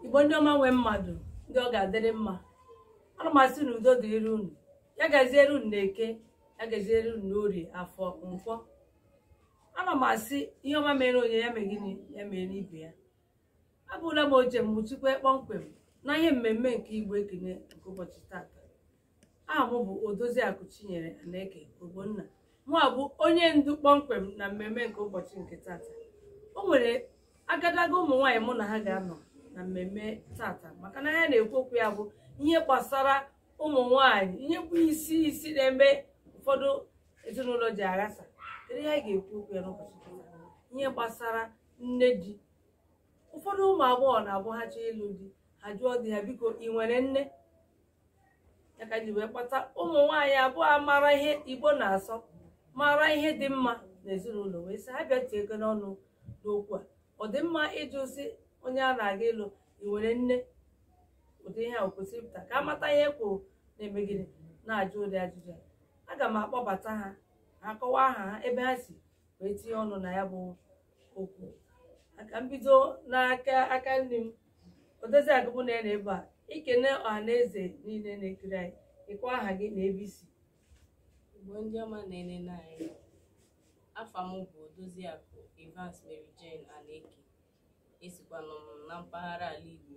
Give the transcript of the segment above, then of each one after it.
igbo ndị ọma nwe mmadụ ndị ọ ga-adịrị mma ana m asị na udo dịrị unu ya gaziere unu n'eke ya gaziere unu n'orie afọ nkwọ ana m asị ihe ọma meere onye ya mee gịnị ya meere ibe ya abụla m oche nchịkwa kpọmkwem na ihe mmemme nke igbo ekene nke ụbọchị tata aha m bụ odoziakụ chinyere aneke ogbonna mụa bụ onye ndu kpọmkwem na mmemme nke ụbọchị nke tata o nwere agadaga ụmụ nwaanyị mụ na ha ga-anọ na mmemme tata maka na ihe a na-ekwu okwu ya bụ ihe gbasara ụmụ nwaanyị ihe bụ isi isi na-eme ụfọdụ ezinụlọ ji aghasa kedu ihe anyị ga-ekwu okwu ya n'ụbọchị nke tata ihe gbasara nne di ụfọdụ ụmụ agbọghọ na-abụ ha chọọ ịlụ di ha jụọ di ha biko ị nwere nne ya ka e ji wee kpọta ụmụ nwaanyị abụọ a mara ihe igbo na-asọ mara ihe dị mma n'ezinụlọ wee sị ha bịa tinyegodi ọnụ n'okwu a ọ dị mma ịjụ sị onye a na-aga ịlụ ị nwere nne ụdị ihe a kwesịrị pụta ka a mata ihe e kwo na-eme gịnị na-ajụ ụdị ajụjụ a aga m akpọbata ha ha akọwaa aha ha ebe ha si wee tinye ọnụ na ya bụ okwu a ka m bido n'aka aka nni m Odoziakụ mụ na ya nọ ebe a i kene ọha na eze niile na-ekiri anyị ị kọwaa aha gị na ebe i si Igbo ndị ọma na-enene anyị afa m bụ Odoziakụ Evans Mary Jane Aneke esikwanụ m na mpaghara ala Igbo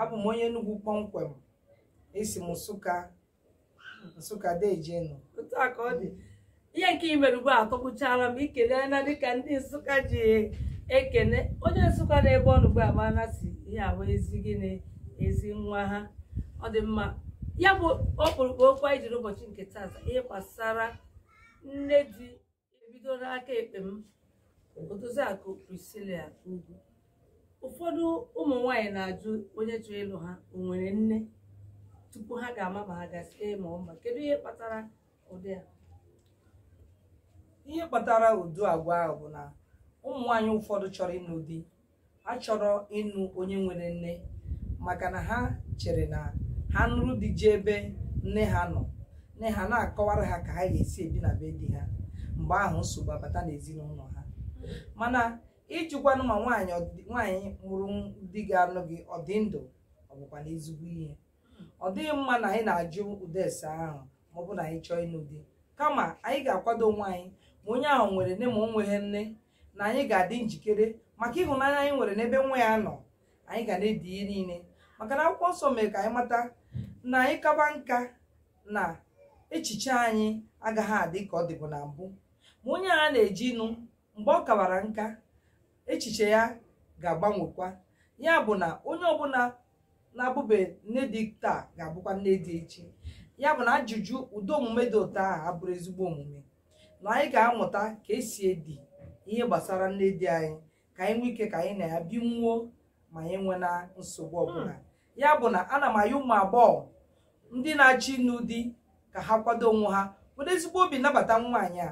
abụ m onye Enugu kpọmkwem esi m Nsụka Nsụka dejenu otu a ka ọ dị ihe nke i mere ugbu a atọgbuchaala m i kenena dịka ndị Nsụka ji ekene onye Nsụka nọ ebe ọ nọ ugbu a ma na sị ihe a bụ ezi gịnị ezi nwa ha ọ dị mma ya bụ ọkpụrụkpụ okwu anyị jiri ụbọchị nke tata ihe gbasara nne di e bido n'aka ekpe m Odoziakụ Priscilla Ugwu ụfọdụ ụmụ nwanyị na-ajụ onye chọrọ ịlụ ha o nwere nne tupu ha ga-ama ma ha ga-asị ee ma ọ mba kedu ihe kpatara ụdị a ihe kpatara ụdị agwa ahụ bụ na ụmụ nwaanyị ụfọdụ chọrọ ịnụ di achọrọ ịnụ onye nwere nne maka na ha chere na ha nụrụ di jee ebe nne ha nọ nne ha na-akọwara ha ka ha ga-esi ebi na be di ha mgbe ahụ nsogbu abata n'ezinụlọ ha mana ịjụkwanụ ma nwaanyị mụrụ di ga-anụ gị ọ dị ndụ ọ bụkwanụ ezigbo ihe ọ dịghị mma na anyị na-ajụ ụdị ese ahụ ma ọ bụ na anyị chọọ ịnụ di kama anyị ga-akwado onwe anyị ma onye ahụ nwere nne ma o nweghị nne na anyị ga-adị njikere maka ịhụnanya anyị nwere n'ebe nwa ya nọ anyị ga na-edi ihe niile maka na akwụkwọ nsọ mere ka anyị mata na anyị kaba nka na echiche anyị agaghị adị ka ọ dịbu na mbụ ma onye a na-eje ịnụ mgbe ọ kawara nka echiche ya ga-agbanwekwa ya bụ na onye ọbụla na-abụbe nne di taa ga-abụkwa nne di echi ya bụ na ajụjụ ụdị omume dị otu ahụ abụrọ ezigbo omume na anyị ga-amụta ka esi edi ihe gbasara nne di anyị ka anyị nwee ike ka anyị na ya binwuo ma anyị enwena nsogbu ọbụla ya bụ na ana m ayọ ụmụ agbọghọ ndị na-achọ ịnụ di ka ha kwado onwe ha were ezigbo obi nabata nwaanyị a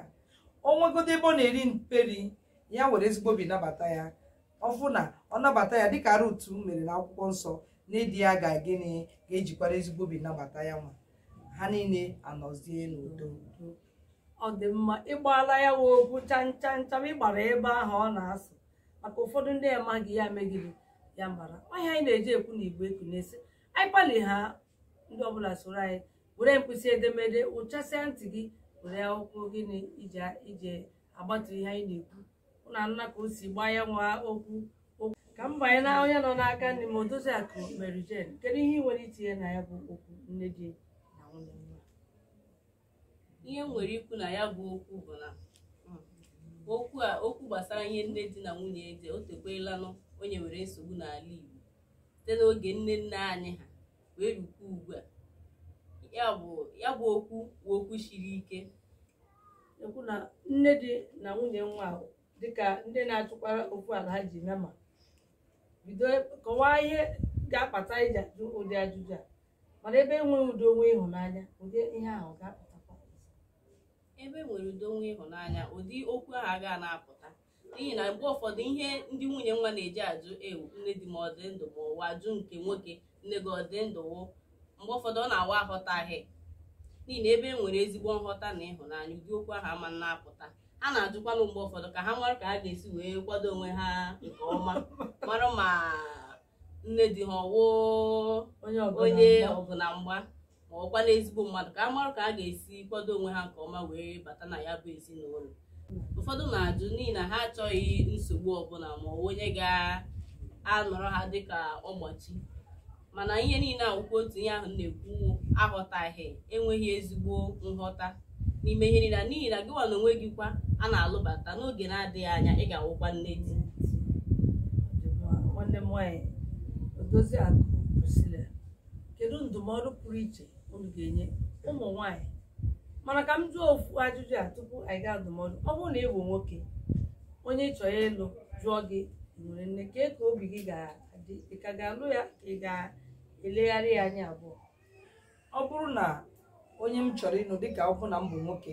o nwegodo ebe ọ na-eri mperi ya were ezigbo obi nabata ya ọ bụ na ọ nabata ya dịka Rut mere na akwụkwọ nsọ nne di ya ga gịnị ga-ejikwara ezigbo obi nabata ya nwa ha niile anọzie n'udo ọ dị mma ị gbaala ya wụ okwu cham cham cham ị gbara ebe ahụ ọ na-asụ maka ụfọdụ ndị amaghị ya megide ya mara ọ ihe anyị na-eji ekwu na igbo eku na-esi anyị kpali ha ndị ọbụla soro anyị were mkpịsị edemede ụchasịa ntị gị were akwụkwọ gịnị iji agbatu ihe anyị na-ekwu unu anụna ka o si gbaa ya nwa okwu ka m banye na onye nọ n'aka nni m odozi akụ Mary Jane kedu ihe ị nwere itinye na ya bụ okwu nne di na nwunye nwa ihe m nwere ikwu na ya bụ okwu bụ na okwu gbasara ihe nne di na nwunye ede o tekwelanụ o nyewere nsogbu n'ala Igbo site n'oge nne nne anyị ha wee rukwa ugbu a ya bụ okwu bụ okwu siri ike okwu nne di na nwunye nwa ahụ dịka ndị na-achụkwara okwu ala ha ji nama bido kọwaa ihe ga-akpata iji ajụ ụdị ajụjụ a mana ebe enweghị udo nwee ịhụnanya ụdị ihe ahụ ga-apụtakwa ebe e nwere udo nwee ịhụnanya ụdị okwu ahụ agaghị na-apụta n'ihi na mgbe ụfọdụ ihe ndị nwunye nwa na-eji ajụ ewu nne di m ọ dị ndụ ma ọ wụ a jụọ nke nwoke nne gị ọ dị ndụ wụ mgbe ụfọdụ ọ na-awụ aghọtaghị n'ihi na ebe e nwere ezigbo nghọta na ịhụnanya ụdị okwu ahụ ama na-apụta ha na-ajụkwanụ mgbe ụfọdụ ka ha mara ka ha ga-esi wee kwado onwe ha nke ọma mara ma nne di ha ọ wụ onye onye ọgụ na mgba ma ọ wụkwanụ ezigbo mmadụ ka ha mara ka ha ga-esi kwado onwe ha nke ọma wee bata na ya bụ ezinụlọ ụfọdụ na-ajụ n'ihi na ha achọghị nsogbu ọbụla ma ọ bụ onye ga-anọrọ ha dịka mgbochi mana ihe niile a wụkwa otu ihe ahụ m na-ekwu aghọtaghị enweghị ezigbo nghọta n'ime ihe niile n'ihi na gịnwa na onwe gị kwa a na-alụbata n'oge na-adịghị anya ị ga-awụkwa nne di nwanne m nwaanyị Odoziakụ Priscilla kedu ndụmọdụ pụrụ iche unu ga-enye ụmụ nwaanyị mana ka m jụọ ofu ajụjụ a tupu anyị gaa ndụmọdụ ọ bụrụ na ị bụ nwoke onye ị chọrọ ịlụ jụọ gị nwere nne kee ka obi gị ga-adị ị ka ga-alụ ya ka ị ga-elegharị ya anya abụọ ọ bụrụ na onye m chọrọ ịnụ dịka ọ bụ na m bụ nwoke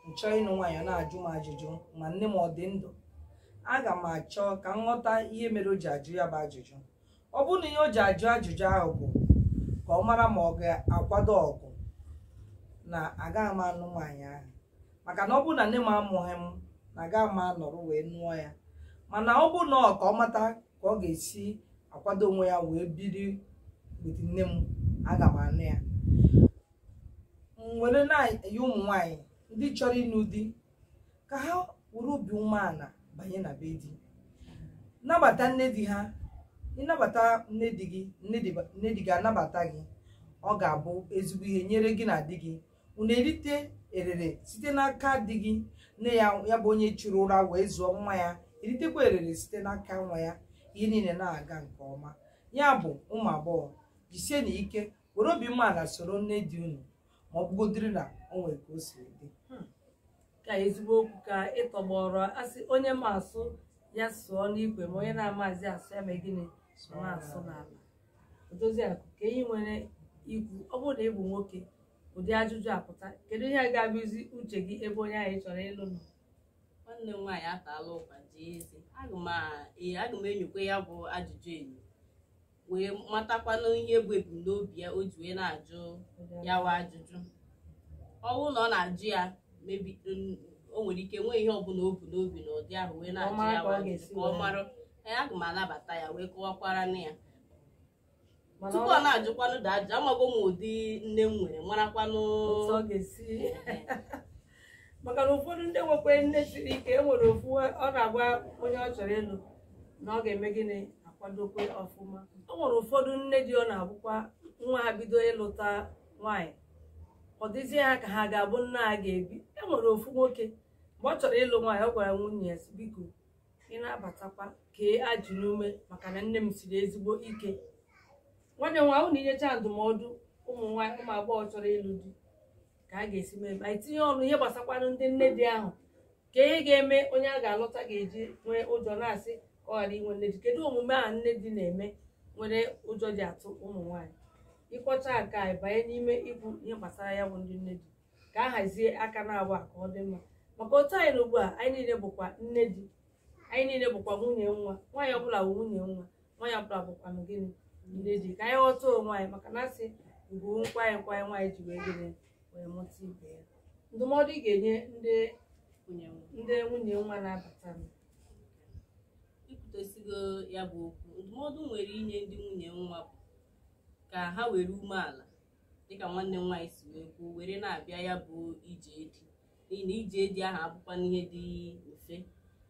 m chọọ ịnụ nwaanyị ọ na-ajụ m ajụjụ ma nne m ọ dị ndụ aga m achọ ka m ghọta ihe mere o ji ajụ ya bụ ajụjụ ọ bụrụ na ihe o ji ajụ ajụjụ ahụ bụ ka ọ mara ma ọ ga-akwado ọgụ na agaghị m anụ nwaanyị ahụ maka na ọ bụrụ na nne m amụghị m na agaghị m anọrọ wee nụọ ya mana ọ bụrụ na ọ ka ọ mata ka ọ ga-esi akwado onwe ya wee biri with nne m aga m anụ ya m were na-ayọ ụmụ nwanyị ndị chọrọ ịnụ di ka ha were obi umeala banye na be di nabata nne di ha ị nabata nne di gị nne di- nne di gị anabata gị ọ ga-abụ ezigbo ihe nyere gị na di gị unu erite erere site n'aka di gị nne ya ya bụ onye chụrụ ụra wee zụọ nwa ya eritekwa erere site n'aka nwa ya ihe niile na-aga nke ọma ya bụ ụmụ agbọghọ jisienụ ike were obi umeala soro nne di unu ma ọ bụgodiri na o nwere ka o siri dị ka ezigbo okwu ka ị tọgbọrọ a sị onye ma asụ ya sụọ n'ikwe ma onye na-amaghị asụ ya mee gịnị ya sụọ n'ala Odoziakụ, kee ihe i nwere ikwu ọ bụrụ na ị bụ nwoke ụdị ajụjụ a pụta kedu ihe ga-abụzi uche gị ebe onye ahụ ị chọrọ ịlụ nọ nwanne m nwaanyị ataala ụkwa jaa eze aga m a- ee, aga m enyokwa ya bụ ajụjụ enyo wee matakwanụ ihe bụ ebumnobi ya o ji wee na-ajụ ya wa ajụjụ ọ bụrụ na ọ na-ajụ ya maybe n- o nwere ike nwee ihe ọbụla o bu n'obi na ụdị ahụ wee na-ajụ ya wa ajụjụ ka ọ mara Ọ mara ka ọ ga-esi were. ee aga m anabata ya wee kọwakwara na ya Mana tupu ọ ọ- na-ajụkwanụ ụdị ajụjụ amago m ụdị nne m nwere marakwanụ otu ọ ga-esi maka na ụfọdụ ndị nwekwa nne siri ike e nwere ofu ọ na-agwa onye ọ chọrọ ịlụ na ọ ga-eme gịnị akwadokwa ọfụma o nwere ụfọdụ nne di ọ na-abụkwa nwa ha bido ịlụta nwaanyị ọ dịzie ha ka ha ga-abụ nna ha ga-ebi e nwere ofu nwoke mgbe ọ chọrọ ịlụ nwaanyị ọ gwara nwunye ya sị, biko ị na-abatakwa kee ajị n'ume maka na nne m siri ezigbo ike nwanne m nwaanyị i nyechaa ndụmọdụ ụmụ nwaanyị ụmụ agbọghọ chọrọ ịlụ di ka a ga-esi mee ma i tinye ọnụ ihe gbasakwanụ ndị nne di ahụ kee ihe ga-eme onye a ga-alụta ga-eji nwee ụjọ na-asị ka ọ ghara inwe nne di kedu omume ahụ nne di na-eme mere ụjọ ji atụ ụmụ nwaanyị ị kọchaa nke a banye n'ime ikwu ihe gbasara ya bụ ndị nne di ka a hazie aka n'abụa ka ọ dị mma maka otu anyị nọ ugbu a anyị niile bụkwa nne di anyị niile bụkwa nwunye nwa nwaanyị ọbụla bụ nwunye nwa nwaanyị ọbụla bụkwanụ gịnị nne di ka anyị ghọta onwe anyị maka na a sị ugwu bụ nkwanye nkwanye nwaanyị ji wee gịnị wee mụta ibe ya ndụmọdụ ị ga-enye ndị ndị nwunye nwa na-abata m ikwutesigo ya bụ okwu ndụmọdụ m nwere inye ndị nwunye nwa bụ ka ha were umeala dịka nwanne m nwaanyị si wee kwuo were na-abịa ya bụ ije di n'ihi na ije di ahụ abụkwanụ ihe dị mfe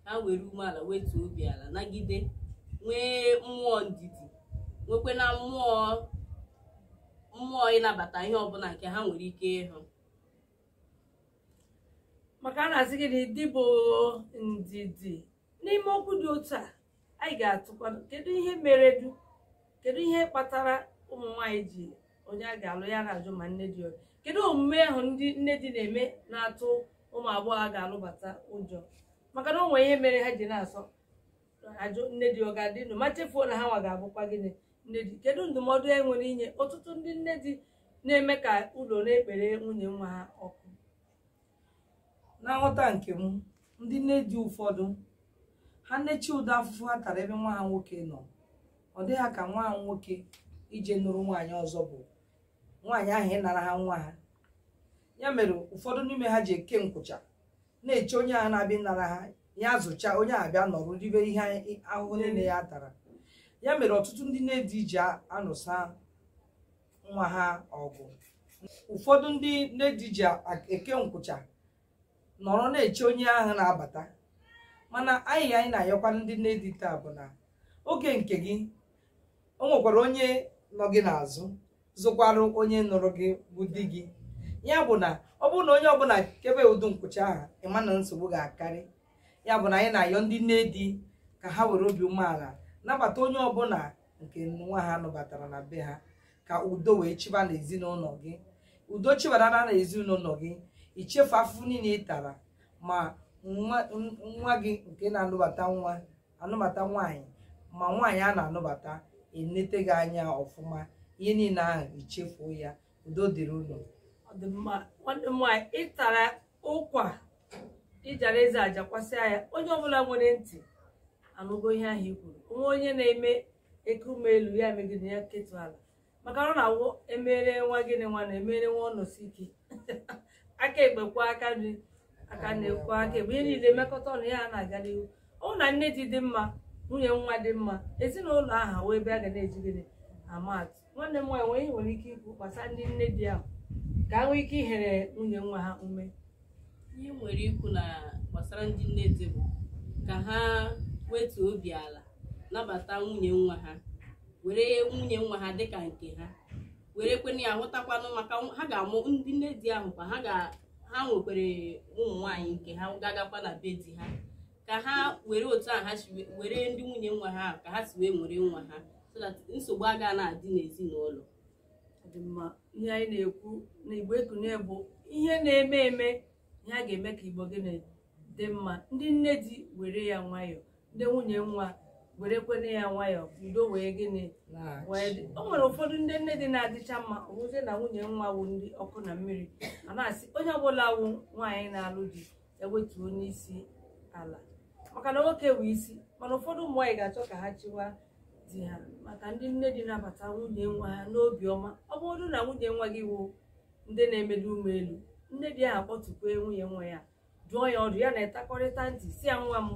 ha were umeala wetuo obi ala nagide nwee mmụọ ndidi nwekwe na mmụọ mmụọ ịnabata ihe ọbụla nke ha nwere ike ịhụ maka a na-asị gị na di bụ ndidi n'ime okwu dị otu a anyị ga-atụkwa kedu ihe mere du kedu ihe kpatara ụmụ nwaanyị ji onye a ga-alụ ya na-ajụ ma nne di ọ dị kedu omume ahụ ndị nne di na-eme na-atụ ụmụ agbọghọ a ga-alụbata ụjọ maka na o nwere ihe mere ha ji na-asọ ajụ nne di ọ ga-adị ndụ ma chefuo na ha nwa ga-abụkwa gịnị nne di kedu ndụmọdụ e nwere inye ọtụtụ ndị nne di na-eme ka ụlọ na-ekpere nwunye nwa ha ọkụ na nghọta nke m ndị nne di ụfọdụ ha na-eche ụdị afụfụ ha tara ebe nwa ha nwoke nọ ọ dị ha ka nwa ha nwoke ije nụrụ nwaanyị ọzọ bụ nwaanyị ahụ ịnara ha nwa ha ya mere ụfọdụ n'ime ha ji eke nkwụcha na-eche onye ahụ na-abịa ịnara ha ya zụcha onye ahụ bịa nọrọ ribe ihe ahụhụ niile ya tara ya mere ọtụtụ ndị nne di ji anụsa nwa ha ọgụ ụfọdụ ndị nne di ji eke nkwụcha nọrọ na-eche onye ahụ na-abata mana anyị anyị na-ayọkwanụ ndị nne di taa bụ na oge nke gị o nwekwara onye nọ gị n'azụ zụkwara onye nụrụ gị bụ di gị ya bụ na ọ bụrụ na onye ọbụla kebe ụdị nkwụcha ahụ ị ma na nsogbu ga-akarị ya bụ na anyị na-ayọ ndị nne di ka ha were obi umeala nabata onye ọbụla nke nwa ha nụbatara na be ha ka udo wee chịba n'ezinụlọ gị udo chịbara na ezinụlọ gị i chefuo afụfụ niile ị tara ma nwa n- nwa gị nke na-anụbata nwa anụbata nwaanyị ma nwaanyị a na-anụbata enete gị anya ọfụma ihe niile ahụ i chefuo ya udo dịrị unu ọ dị mma nwanne m nwaanyị ị tara ụkwa ị jara eze ajakwasịa ya onye ọbụla nwere ntị anụgo ihe ahụ i kwuru o nwee onye na-eme ekume elu ya megide ya ketụ ala maka na ọ na-awụ emere nwa gịnị nwa na emere nwa ọnọsi ike aka ekpe kwọọ aka nri aka nri akwọọ aka ekpe ihe niile mekọta ọnụ ya na-aga n'ihu ọ bụrụ na nne di dị mma nwunye nwa dị mma ezinụlọ ahụ wee ebe a ga na-eji gịnị ama atụ nwanne m nwaanyị onye nwere ike ikwu gbasara ndị nne di ahụ ka ha nwee ike ihere nwunye nwa ha ume ihe m nwere ikwu na gbasara ndị nne di bụ ka ha wetu obi ala nabata nwunye nwa ha were nwunye nwa ha dịka nke ha werekwene ya hụtakwanụ maka nw- ha ga-amụ ndị nne di ahụ kwa ha ga ha nwekwere ụmụ nwaanyị nke ha ga-agakwa na be di ha ka ha were otu a ha si we- were ndị nwunye nwa ha ka ha si wee nwere nwa ha so that nsogbu agaghị na-adị n'ezinụlọ Ọ dị mma ihe anyị na-ekwu na igbo ekunie bụ ihe na-eme eme ihe a ga-eme ka igbo gịnị dị mma ndị nne di were ya nwayọọ ndị nwunye nwa werekwene ya nwayọọ ka udo wee gịnị wee dị. o nwere ụfọdụ ndị nne di na-adịcha mma ọ wụzie na nwunye nwa wụ ndị ọkụ na mmiri a na-asị onye ọbụla wụ nwaanyị na-alụ di wetuonụ isi ala maka na nwoke bụ isi mana ụfọdụ ụmụ nwaanyị ga-achọ ka ha chịwa di ha maka ndị nne di nabata nwunye nwa ha n'obi ọma ọ bụrụ na nwunye nwa gị wụ ndị na-emeli ume elu nne di ahụ akpọtukwe nwunye nwa ya dụọ ya ọdụ ya na ya takọrịta ntị sị ya nwa m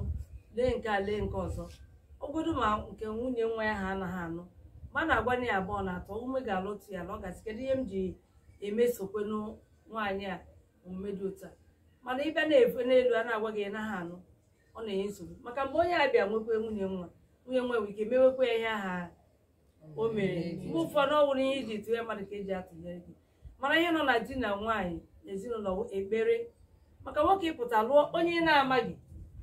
lee nke a lee nke ọzọ ogodo ma nke nwunye nwa ya ha anaghị anụ ma a na-agwa na ya abụọ na atọ ume ga-alụtụ ya na ọ ga-asị kedu ihe m ji emesokwenụ nwaanyị a omume dị otu a mana ị bịa na-efe n'elu a na-agwa gị ị naghị anụ ọ na-enye nsogbu maka mgbe onye a bịa nwekwe nwunye nwa nwunye nwa nwere ike mewekwa ya ihe aha o mere mgbe ụfọdụ ọ bụrụ ihe i ji tụnye mmadụ ka e ji atụnyere gị mana ihe nọ na di na nwaanyị ezinụlọ bụ ekpere maka nwoke ịpụta lụọ onye ị na-amaghị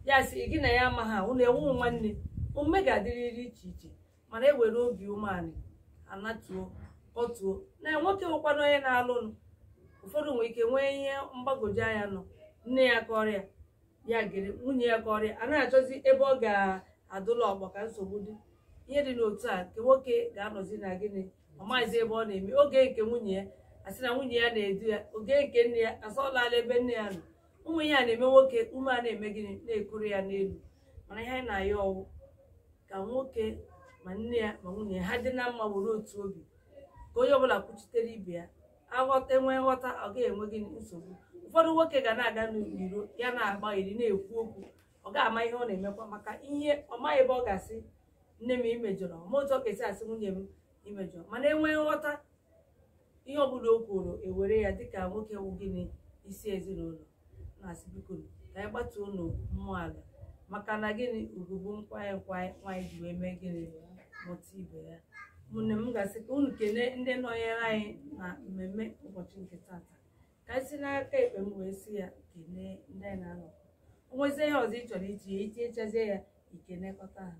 ya si gị na ya amaghị ahụ unu awụghị nwanne omume ga-adịrịrị iche iche mana e were obi umeala anatuo kọtuo na nwoke nwekwana onye na-alụnụ ụfọdụ nwere ike nwee ihe mgbagwoju anya nọ nne ya kọọrọ ya ya gere nwunye ya kọọrọ ya a na-achọzi ebe ọ ga-adụla ọkpa ka nsogbu dị ihe dị n'otu a nke nwoke ga-anọzi na gịnị ọ maghịzi ebe ọ na-eme ọ gee nke nwunye ya a sị na nwunye ya na-edu ya ọ gee nke nne ya a sị ọ lala ebe nne ya nọ ụmụ ihe a na-eme nwoke ume a na-eme gịnị na-ekuru ya n'elu mana ihe anyị na-ayọ ọ wụ ka nwoke ma nne ya ma nwunye ya ha dị na mma were otu obi ka onye ọbụla kwuchitere ibe ya aghọta e nwee nghọta ọ gaghị enwe gịnị nsogbu ụfọdụ nwoke ga na-aga n'iro ya na-agba iri na-ekwu okwu ọ gaghị ama ihe ọ na-emekwa maka ihe ọ maghị ebe ọ ga-asị nne m i mejọrọ ma otu ọ ga-esi asị nwunye m i mejọ mana e nwee nghọta ihe ọbụla o kwuru e were ya dịka nwoke wụ gịnị isi ezinụlọ na-asị biko ka anyị gbatuonụ mmụọ ala maka na gịnị ugwu bụ nkwanye nkwanye nwaanyị ji wee mee gịnị mụta ibe ya ụmụnne m ga-asị ka unu kelee ndị nọnyere anyị na mmemme ụbọchị nke tata ka anyị si n'aka ekpe m wee si ya kelee ndị anyị na ha nọ o nwezie ihe ọzọ ị chọrọ iji ya itinyechazie ya i kenekọta ha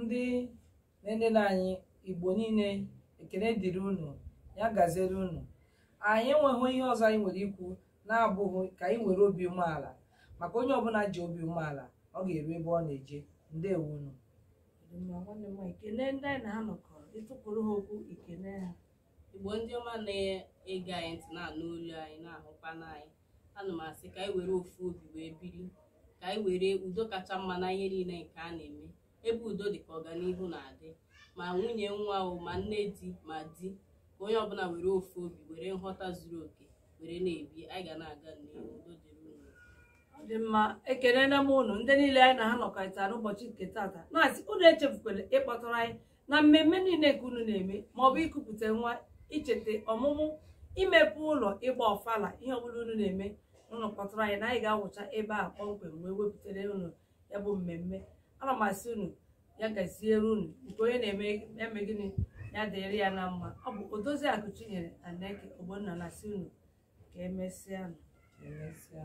ndị na-enene anyị igbo niile ekene dịrị unu ya gaziere unu anyị enweghị ihe ọzọ anyị nwere ikwu na-abụghị ka anyị nwere obi umeala maka onye ọbụla ji obi umeala ọ ga-eru ebe ọ na-eje ndewo unu ma nwanne m nwaanyị kelee ndị anyị na ha nọkọ ịtụpụrụ ha okwu ikele ha igbo ndị ọma na-ege anyị ntị na-anụ olu anyị na-ahụkwa n'anyị ana m asị ka anyị were ofu obi wee biri ka anyị were udo kacha mma na ihe niile nke a na-eme ebe udo dị ka ọganihu na-adị ma nwunye nwa o ma nne di ma di ka onye ọbụla were ofu obi were nghọta zuru oke were na-ebi anyị ga na-aga n'ihu udo dịrị unu ọ dị mma ekenena m unu ndị niile anyị na ha nọkọrịta n'ụbọchị nke tata na-asị unu echefukwala ịkpọtụrụ anyị na mmemme niile nke unu na-eme ma ọ bụ ikupụta nwa icheta ọmụmụ imepe ụlọ ịgba ọfala ihe ọbụla unu na-eme unu kpọtụrụ anyị na anyị ga-awụcha ebe a kpọmkwem wee wepụtara unu ya bụ mmemme ana m asị unu ya gaziere unu nke onye na-eme gịnị ya dịrị ya na mma ọ bụ odoziakụ chinyere aneke ogbonna na-asị unu ka emesịa Emesịa.